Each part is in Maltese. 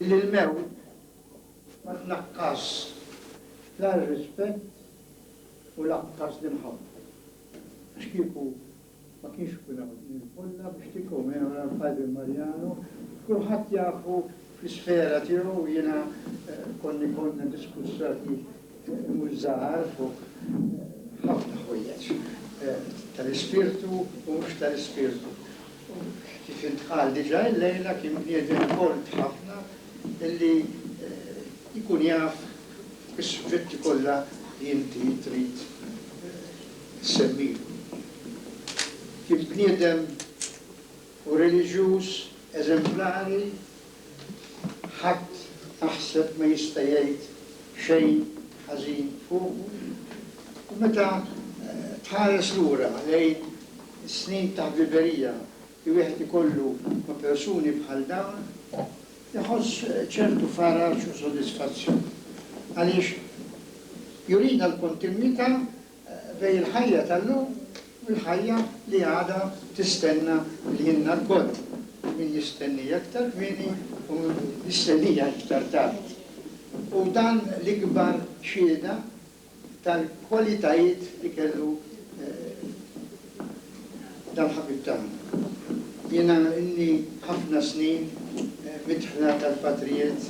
li l-mewt ma tnaqqasx la r-rispett u lanqas l-imħabba, għax kieku ma kienx ikun hawn din il-folla biex tikkommemora l-Padre Mariano, kulħadd jafu Fl-isfera tiegħu jiena kont ikollna diskussjoni mhux żgħar fuq ħafna ħwejjeġ tal-ispirtu u mhux tal-ispirtu. Kif intqal diġà illejla kien bniedem kolt ħafna illi jkun jaf is-suġġetti kollha li inti trid issemmihom. Kien bniedem u reliġjuż eżemplari, ħadd naħseb ma jista' jgħid xejn ħażin fuqu. U meta tħares lura lejn is-snin ta' ħbiberija li wieħed ikollu ma' persuni bħal dawn, iħoss ċertu faraġ u sodisfazzjon għaliex jurina l-kontinwità bejn il-ħajja tal-lum u l-ħajja li għadha tistenna lilna lkoll, min jistennija iktar kmieni u min jistennija iktar tard. Hu dan l-ikbar xhieda tal-kwalitajiet li kellu dal-ħabib tagħna. Jiena ilni ħafna snin midħla tal-patrijiet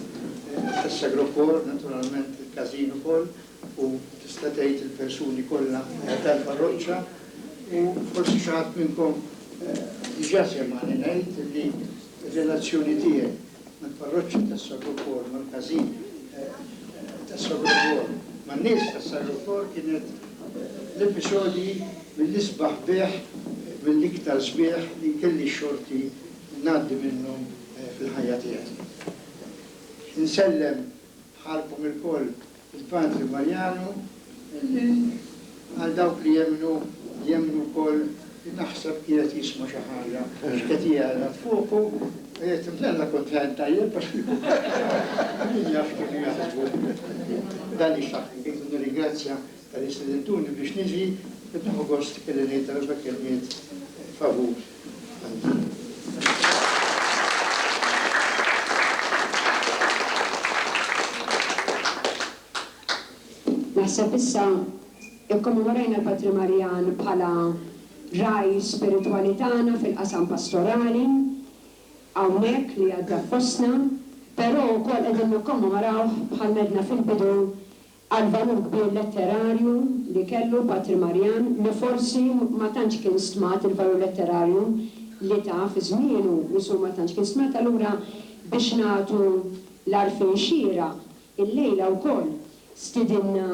tas-Sagro Cor, naturalment il-każin ukoll, U tista' tgħid il-persuni kollha tal-parroċċa u forsi xi ħadd minnkom diġà semgħani ngħid li r-relazzjoni tiegħi mal-parroċċa tas-Sarrukor, mal-każin tas-Sarrukor, man-nies tas-Sarrukor kienet l-episodji mill-isbaħ sbieħ, mill-iktar sbieħ li kelli x-xorti ngħaddi minnhom fil-ħajja tiegħi. Insellem bħalkom ilkoll Il-Patri Mariano, li għal dawk li jemmnu, jemmnu wkoll, naħseb qiegħed jisma' xi ħaġa x'qed jgħelat fuqu, qiegħed imdella kuntent tajjeb għax min jaf kif jaħsbu. Dan hi x'taħt kif nirringrazzja tal-istedintuni biex niġi, qed nieħu gost kelli ngħid darba kelmiet favur. Naħseb issa ikkommemorajna l-Patri Marjan bħala ragħaj spiritwali tagħna fil-qasam pastorali hawnhekk li għadda fostna, però wkoll qegħdin nikkommemorawh bħal m'għedna fil-bidu għall-valur kbir letterarju li kellu Patri Marjan li forsi ma tantx kien stmat il-valur letterarju li ta fi żmienu mishu ma tantx kien stmat allura biex nagħtu l-għarfien xieraq illejla wkoll stidinna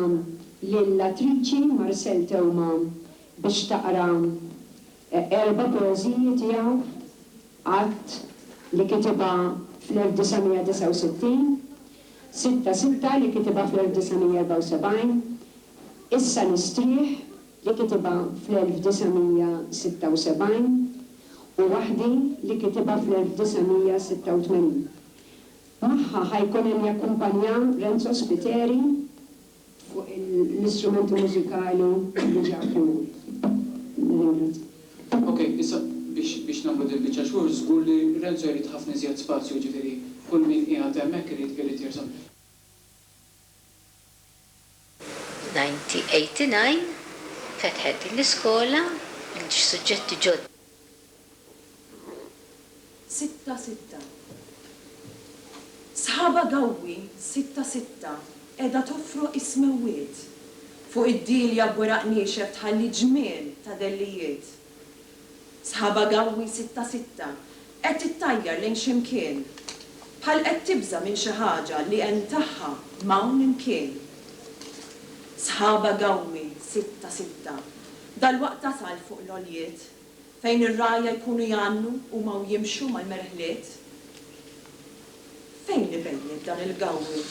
lill-attriċi Marcelle Theuma biex taqra Erba' poeżiji tiegħu, Għadd, li kitibha fl-1969, Sitta Sitta li kitibha fl-1974, Issa Nistrieħ li kitibha fl-1976 u Waħdi li kitibha fl-1986. Magħha ħa jkun hemm jakkumpanjah Renzo Spiteri. fuq l-istrumenti mużikali li ġa approvati. Nirringrazzja. Ok, issa biex biex nagħmlu din il-biċċa xogħol żgur li Renzo jrid ħafna iżjed spazju jiġifieri kull min qiegħed hemmhekk irid irid jersa'. 1989 fetħet din l-iskola, suġġetti ġodda. sitta sitta Sħaba Gawwi sitta sitta qiegħda tofroq is-smewwiet Fuq id-dielja b'weraq niexef tħalli ġmiel ta' dellijiet Sħaba Gawwi sitta sitta qed tittajjar lejn xi mkien Bħal qed tibża' minn xi ħaġa li hemm tagħha m'hawn imkien Sħaba Gawwi sitta sitta Dalwaqt tasal fuq l-għoljiet fejn ir-rgħajja jkunu jgħannu huma u jimxu mal-merħliet. Fejn hi bejniet dan il-gawwi?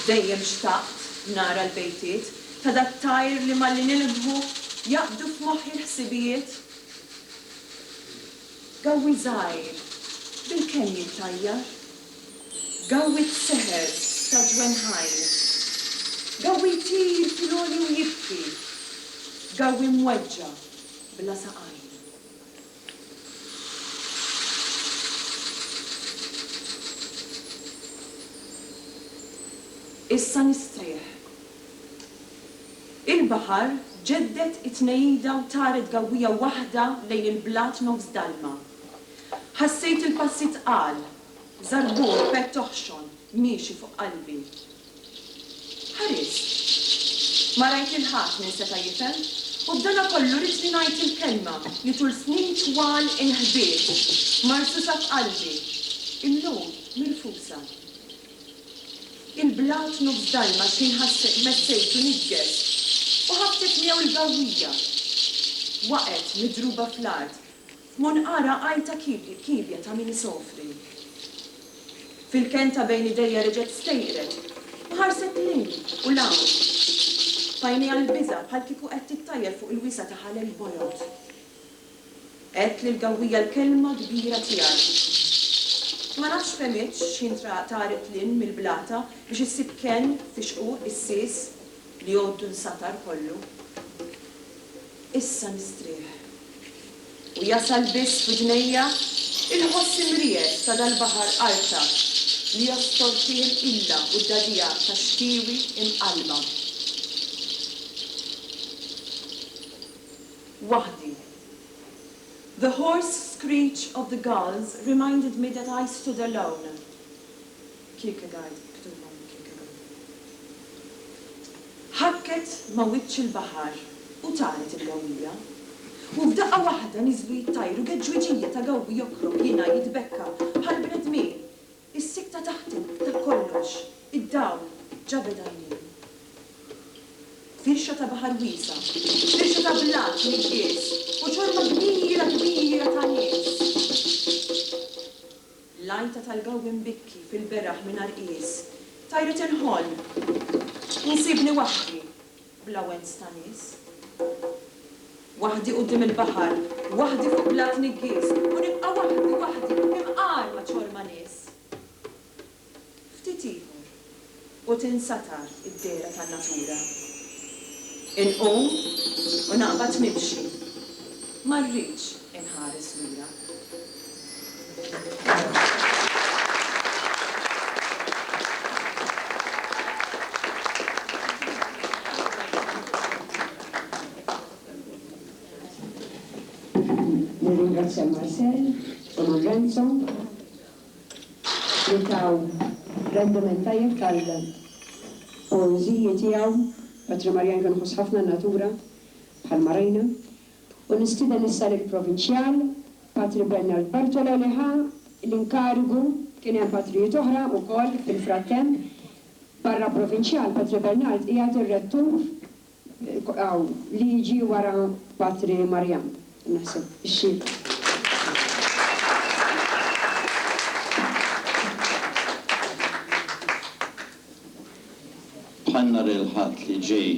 Dejjem xtaqt nara l-bejtiet ta' dat-tajr li malli nilbħu jaqbdu f'moħħi l-ħsibijiet. Gawwi żgħir bilkemm jittajjar. Gawwi t-seher ta' ġwenn ħajr. Gawwi jtir fil-għoli u jibki. Gawwi mweġġa' bla saqajn. Issa nistrieħ. Il-baħar ġedded it-tnejjida u taret gawwija waħda lejn il-blat nofs dalma. Ħassejt il-passi tqal, żarbun b'pett toħxon miexi fuq qalbi. Ħarist. Ma rajt lil ħadd min seta' jifhem u b'dana kollu ridni ngħid il-kelma li tul snin twal inħbiet, marsusa f'qalbi, illum mirfusa. Il-blat nofs dajma xħin ħassejt mezzejtu niggeż u ħabtet miegħu l-gawwija. Waqgħet midruba fl-art Mon ara għajta kiebli kiebja ta' min isofri. Fil-kenn ta' bejn idejja reġgħet stejqret u ħarset 'l hinn u 'l hawn. F'għajnejha l-biża' bħal kieku qed tittajjar fuq il-wiesgħa ta' ħalel bojod. Għedt lill-gawwija l-kelma kbira tiegħi. Ma nafx fehmitx x'ħin traqaq taret 'l hinn mill-blata biex issib kenn f'ixqu issies li għoddu nsatar kollu. Issa nistrieħ. U jasal biss f'udnejja l-ħoss imriegħed ta' dal-baħar qarta li jostor fih il-qilla u d-dagħdigħa tax-xtiewi imqallba. Waħdi. The hoarse screech of the gulls reminded me that I stood alone. Kierkegaard, miktub hawn minn Kierkegaard, ħakket ma' wiċċ il-baħar u taret il-gawwija. U f'daqqa waħda niżlu jittajru u geġġwiġija ta' gawwi jokrob, jingħi, jitbekka, bħal bnedmin. Is-sikkta taħtem, ta' kollox, id-dawl, ġabed għajnejn. Firxa ta' baħar wiesa', firxa ta' blat niggies u ċorma kbira kbira ta' nies. L-għajta tal-gawwi mbikki fil-beraħ mingħajr qies, tajret il-ħolm li nsibni waħdi bla wens ta' nies. Waħdi quddiem il-baħar, waħdi fuq blat niggies u nibqa' waħdi, waħdi, imqarma ċorma nies. Ftit ieħor. u tinsatar id-dehra tan-natura. Inqum u naqbad nimxi, ma rridx inħares lura. li taw rendiment tajjeb tal-poeżiji tiegħu, Patri Marjan kien iħoss ħafna n-natura, bħalma rajna, u nistieden issa lill-Provinċjal, Patri Bernard Bartolo li ħa l-inkarigu, kien hemm Patrijiet oħra wkoll fil-frattemp, barra Provinċjal, Patri Bernard qiegħed ir-Rettur Hawn li jiġi wara Patri Marjan, naħseb, ix-xhieda. Bħal nhar il-Ħadd li ġej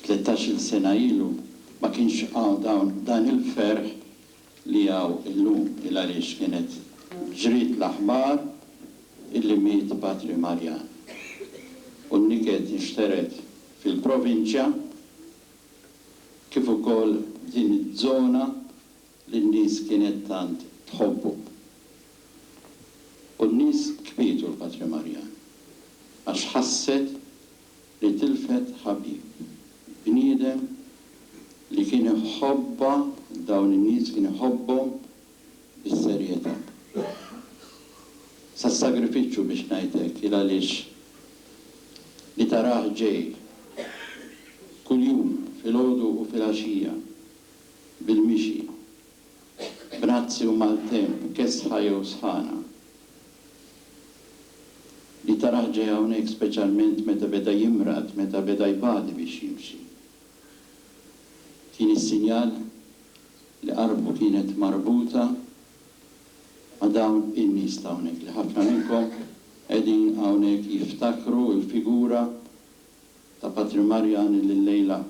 tlettax-il sena ilu, ma kienx hawn dan il-ferħ li hawn illum il għaliex kienet ġriet l-aħbar illi miet Patri Marjan u n-niket inxtered fil-provinċja kif ukoll f'din iz-zona li n-nies kienet tant tħobbu. U n-nies kbietu l-Patri Marjan għax ħasset li tilfet ħabib, bniedem li kien iħobbha dawn in-nies kien iħobbhom bis-serjetà. Sas-sagrifiċċju biex ngħid hekk il għaliex li tarah ġej kuljum filgħodu u filgħaxija bil-mixi, b'nazzi u maltemp kesħa jew sħana, li tarah ġej hawnhekk speċjalment meta beda jimrad, meta beda jbati biex jimxi. Tieni sinjal li qarbtu kienet marbuta ma' dawn in-nies ta' hawnhekk li ħafna minnkom qegħdin hawnhekk jiftakru l-figura ta' Patri Marjan li llejla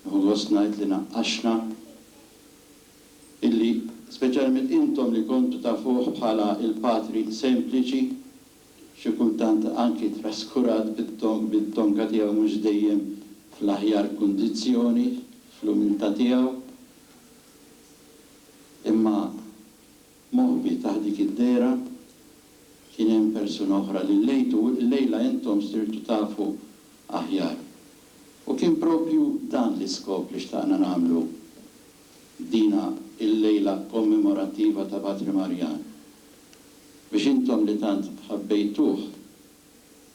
nieħu gost ngħid li naqqaxna, illi speċjalment intom li kontu tafuh bħala il-Patri sempliċi, xi kultant anki traskurat bit-tonka tiegħu mhux dejjem fl-aħjar kundizzjoni, fl-umiltà tiegħu, imma moħbi taħt dik id-dehra kien hemm persuna oħra li llejtu u llejla intom sirtu tafu aħjar. U kien proprju dan l-iskop li xtaqna nagħmlu f'dina il-lejla kommemorattiva ta' Patri Marjan, biex intom li tant ħabbejtuh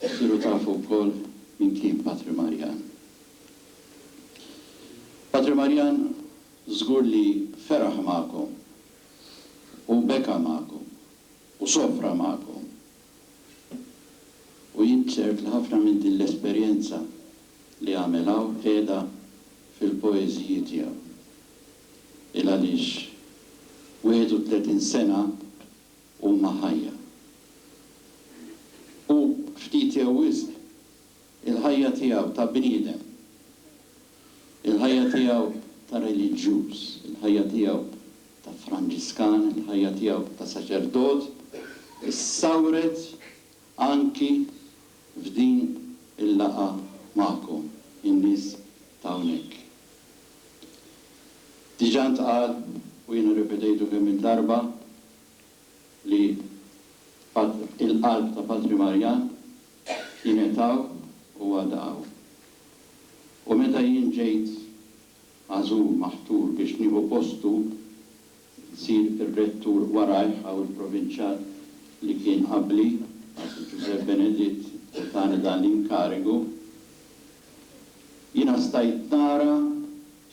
issiru tafu wkoll min kien Patri Marjan. Patri Marjan żgur li feraħ magħkom u beka magħkom u sofra magħkom u jien ċert li ħafna minn din l-esperjenza li għamel hawn qiegħda fil-poeżiji tiegħu. Il-għaliex 31 sena huma ħajja. U ftit jew wisq il-ħajja tiegħu ta' bniedem, il-ħajja tiegħu ta' reliġjuż, il-ħajja tiegħu ta' Franġiskan, il-ħajja tiegħu ta' saċerdot, issawret Anki f'din il-laqgħa magħkom, in-nies ta' hawnhekk. Diġà ntqal u jien irrepetejtu kemm il darba li il-qalb ta' Patri Marjan kienet hawn u għadha hawn. U meta jien ġejt magħżul, maħtur biex nieħu postu, isir ir-rettur warajh, hawn il-provinċjal li kien qabli, Patri Ġużè Beneditt li tani dan l-inkarigu. Jiena stajt nara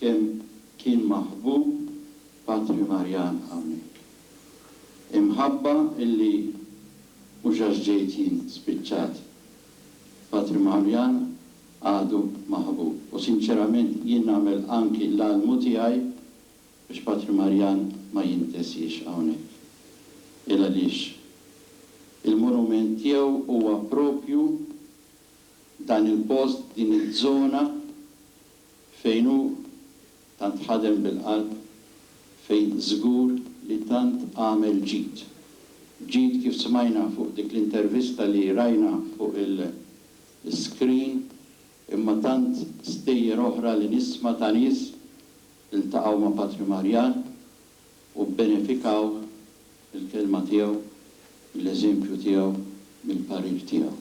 kemm kien maħbub Patri Marjan hawnhekk. Imħabba illi mhux għax ġejt jien spiċċat Patri Maħamjan għadu maħbub u sinċerament jien nagħmel anki l-almu tiegħi biex Patri Marjan ma jintesiex hawnhekk. Il għaliex il-monument tiegħu huwa propju dan il-post, din iż-żona fejn hu Tant ħadem bil-qalb fejn żgur li tant għamel ġid. Ġid kif smajna fuq dik l-intervista li rajna fuq il-screen imma tant stejjer oħra li nisma ta' nies li ltaqgħu ma' Patri Marjan, u bbenefikaw mill-kelma tiegħu, mill-eżempju tiegħu, mill-parir tiegħu.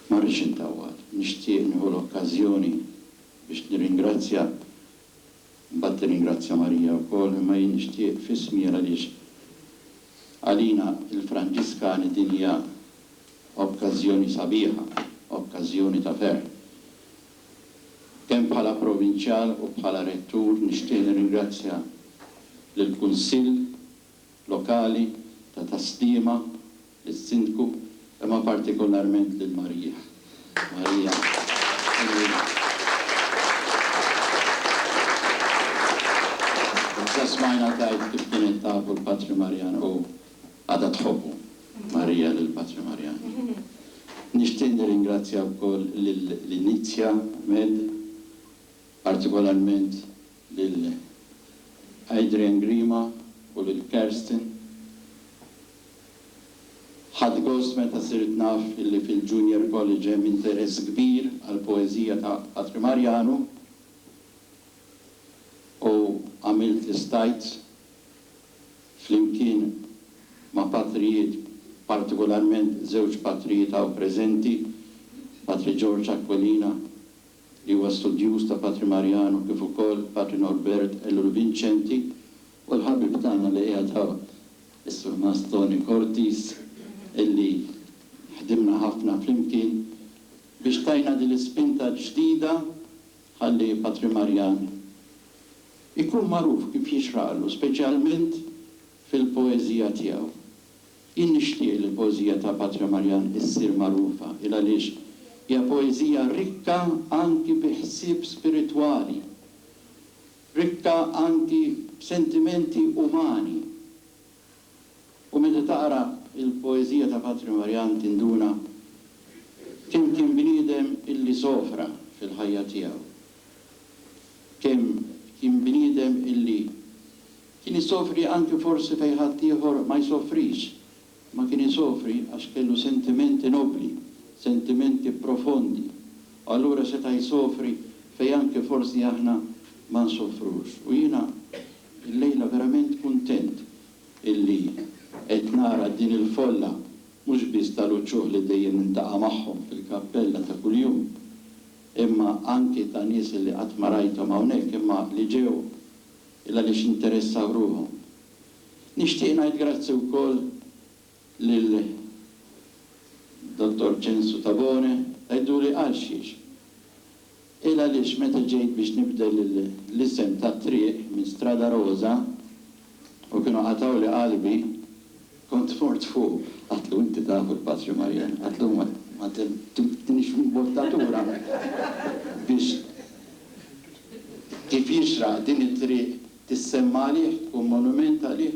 Ma rridx intawwal, nixtieq nieħu l-okkażjoni biex nirringrazzja, imbagħad tirringrazzja Marija wkoll, imma jien nixtieq f'ismi għaliex għalina l-Franġiskani din hija okkażjoni sabiħa, okkażjoni ta' ferħ. Kemm bħala Provinċjal u bħala Rettur nixtieq nirringrazzja lill-Kunsill Lokali ta' Tas-Sliema, lis-Sindku, imma partikolarment lil Maria. Maria, Sinjura. Diġà smajna tgħid kif kienet taf u l-Patri Marian hu Għadha tħobbu Marija lil Patri Marjani. Nixtieq nirringrazzja wkoll lil Lynizia Med, partikolarment lil Adrian Grima u lil Kerstin. Ħadt gost meta sirt naf li fil-Junior College hemm interess kbir għall-poeżija ta' Patri Marjanu u għamilt l-istajt flimkien ma' patrijiet, partikolarment żewġ patrijiet hawn preżenti, Patri George Aquilina, li huwa studjuż ta' Patri Mariano, kif ukoll Patri Norbert Ellul Vincenti, u l-ħabib tagħna li qiegħed hawn, is-Surmast Tony Cortis, illi ħdimna ħafna flimkien biex tajna din l-ispinta l-ġdida ħalli Patri Marjan Ikun magħruf kif jixraqlu, speċjalment fil-poeżija tiegħu. Jien nixtieq li l-poeżija ta' Patria Marjan issir magħrufa, il għaliex hija poeżija rikka anki bi ħsieb spiritwali, rikka anki b'sentimenti umani, U meta taqra l-poeżija ta' Patri Marjan tinduna kemm kien bniedem illi sofra fil-ħajja tiegħu, kemm kien bniedem illi kien isofri anki forsi fejn ħaddieħor ma jsofrix, imma kien isofri għax kellu sentimenti nobbli, sentimenti profondi, u allura seta' jsofri fejn anki forsi aħna ma nsofrux. U jiena Illejla verament kuntent illi qed nara din il-folla mhux biss tal-uċuħ li dejjem niltaqa' magħhom fil-kappella ta' kuljum, imma anki ta' nies illi qatt ma rajthom hawnhekk imma li ġew il-għaliex interessaw ruħhom. Nixtieq ngħid grazzi wkoll. lil Dottor Ċensu Tabone, Għiduli għalxiex, il għaliex meta ġejt biex nibdel l-isem tat-triq minn Strada Roża u kienu qatgħuli qalbi, kont mort fuq. Għidlu inti taf il-Patri Marjan, għidlu ma tinix fl-imbottatura biex kif jixraq din it-triq tissemma għalih, tkun monument għalih.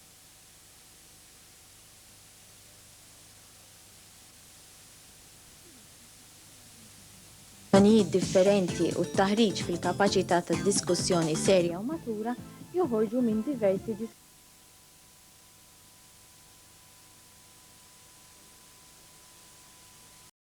l-opinjonijiet differenti u t-taħriġ fil-kapaċità ta' diskussjoni serja u matura joħorġu minn diversi